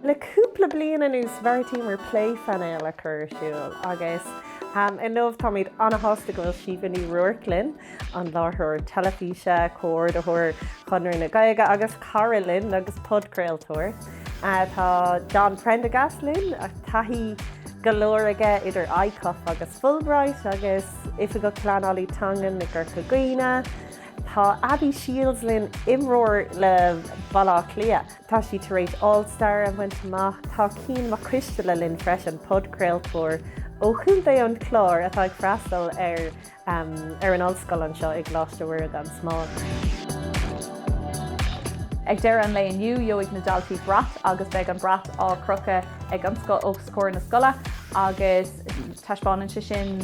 Le cúpla bliain anuas bheartaíomar plé-phainéal a chur ar siúl agus inniu táimid an-shásta go bhfuil Síomha Ní Ruairc linn, an láithreoir teilifíse, comhordaitheoir Chonradh na Gaeilge agus cara linn agus podchraoltóir. Tá John Prendergast linn, taithí go leor aige idir ICOF agus Fulbright agus Oifigeach Pleanálaí Teangan i gCorca Dhuibhne. Tá Abby Shiels linn, imreoir le Baile Átha Cliath. Tá sí tar éis All Star a bhaint amach. Tá Cian Mac Coisteala linn freisin, podchraoltóir ó chontae an Chláir atá ag freastal ar ar an ollscoil anseo i gColáiste Mhuire gan Smál. Ag deireadh an lae inniu, gheobhaidh na daltaí brat agus beidh an brat á chrochadh ag an scoil os comhair na scoile agus taispeánann sé sin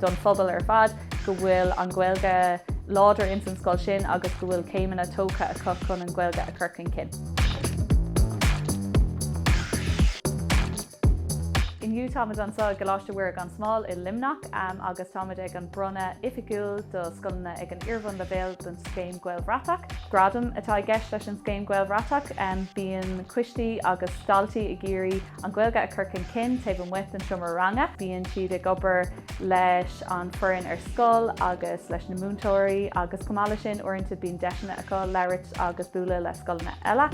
don phobal ar fad. go bhfuil an Ghaeilge láidir ins an scoil sin agus go bhfuil céimeanna tógtha acu chun an Ghaeilge a chur chun cinn. Inniu táimid anso i gColáiste Mhuire gan Smál i Luimneach agus táimid ag an bronnadh oifigiúil do scoileanna ag an iarbhunleibhéal don Scéim Gaelbhratach. Gradam atá i gceist leis an Scéim Gaelbhratach. Bíonn coistí agus daltaí ag iarraidh an Ghaeilge a chur chun cinn taobh amuigh den seomra ranga. Bíonn siad ag obair leis an foireann ar scoil agus leis na múinteoirí agus chomh maith leis sin uaireanta bíonn deiseanna acu labhairt agus bualadh le scoileanna eile.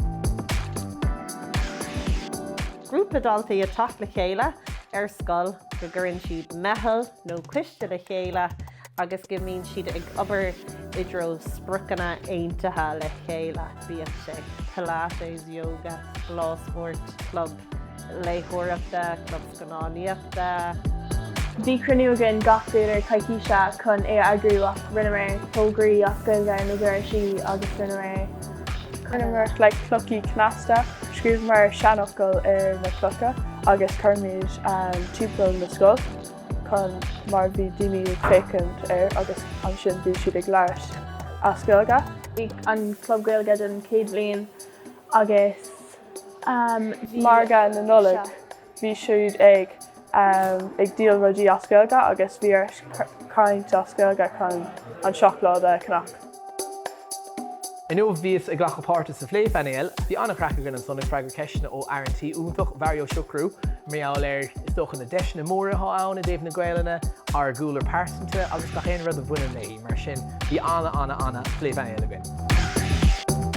Grúpa daltaí ag teacht le chéile ar scoil go gcuireann siad meitheal. nó coiste le chéile agus go mbíonn siad ag obair i dtreo spriocanna aontaithe le chéile, bíodh sé Pilates, Yoga, Lá Spóirt, Club Léitheoireachta, Club Scannánaíochta. Bhí cruinniú againn gach deireadh coicíse chun é a eagrú ach rinneamar fógraí as Gaeilge ar na doirsí agus rinneamar, rinneamar le clochaí cneasta, scríobhamar seanfhocail ar na clocha agus chuirimid timpeall na scoil. chun mar bhí daoine ag féachaint air agus ansin bhí siad ag labhairt as Gaeilge. Bhí an club Gaeilge den chéad bhliain agus bhí. Margadh na Nollag bhí siad ag ag díol rudaí as Gaeilge agus bhí ort caint as Gaeilge chun an seacláid a cheannach. Inniu bhíos ag glacadh páirte sa phlé-phainéal. Bhí an-chraic againn ansan ag freagairt ceisteanna ó fhear an tí iontach, Bharry Ó Siochrú. Mar gheall ar, is dócha, na deiseanna móra atá ann i dtaobh na Gaolainne, ár gcúlra pearsanta agus gach aon rud a bhaineann léi. Mar sin, bhí ana-ana-ana phlé-phainéal againn.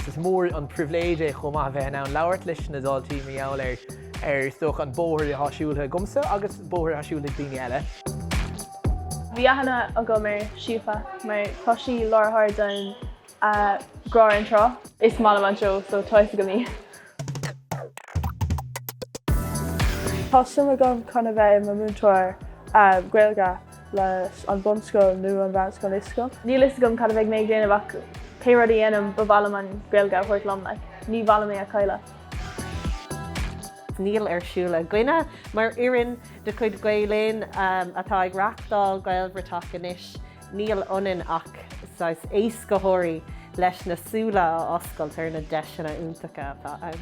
Is mór an pribhléid é chomh maith a bheith in ann labhairt leis na daltaí mar gheall ar, is dócha, an bóthar atá siúltha agamsa agus bóthar atá siúltha ag daoine eile. Bhí aithne agam ar Síomha mar tá sí láithreoir den Grá ar an Trá. Is maith liom an seó so tá fhios agam í. Tá suim agam chun a bheith i mo múinteoir Gaeilge leis an bunscoil nó an mheánscoil i scoil. Níl fhios agam cad a bheidh mé ag déanamh ach pé rud a dhéanaim ba mhaith liom an Ghaeilge a thabhairt liom like ní mhaith liom é a chailleadh. Níl ar siúl againne mar fhoireann. de chuid Gael Linn atá ag reáchtáil Gaelbhratach anois, níl ionainn ach saghas éascaitheoirí leis na súile a oscailt ar na deiseanna iontacha atá ann.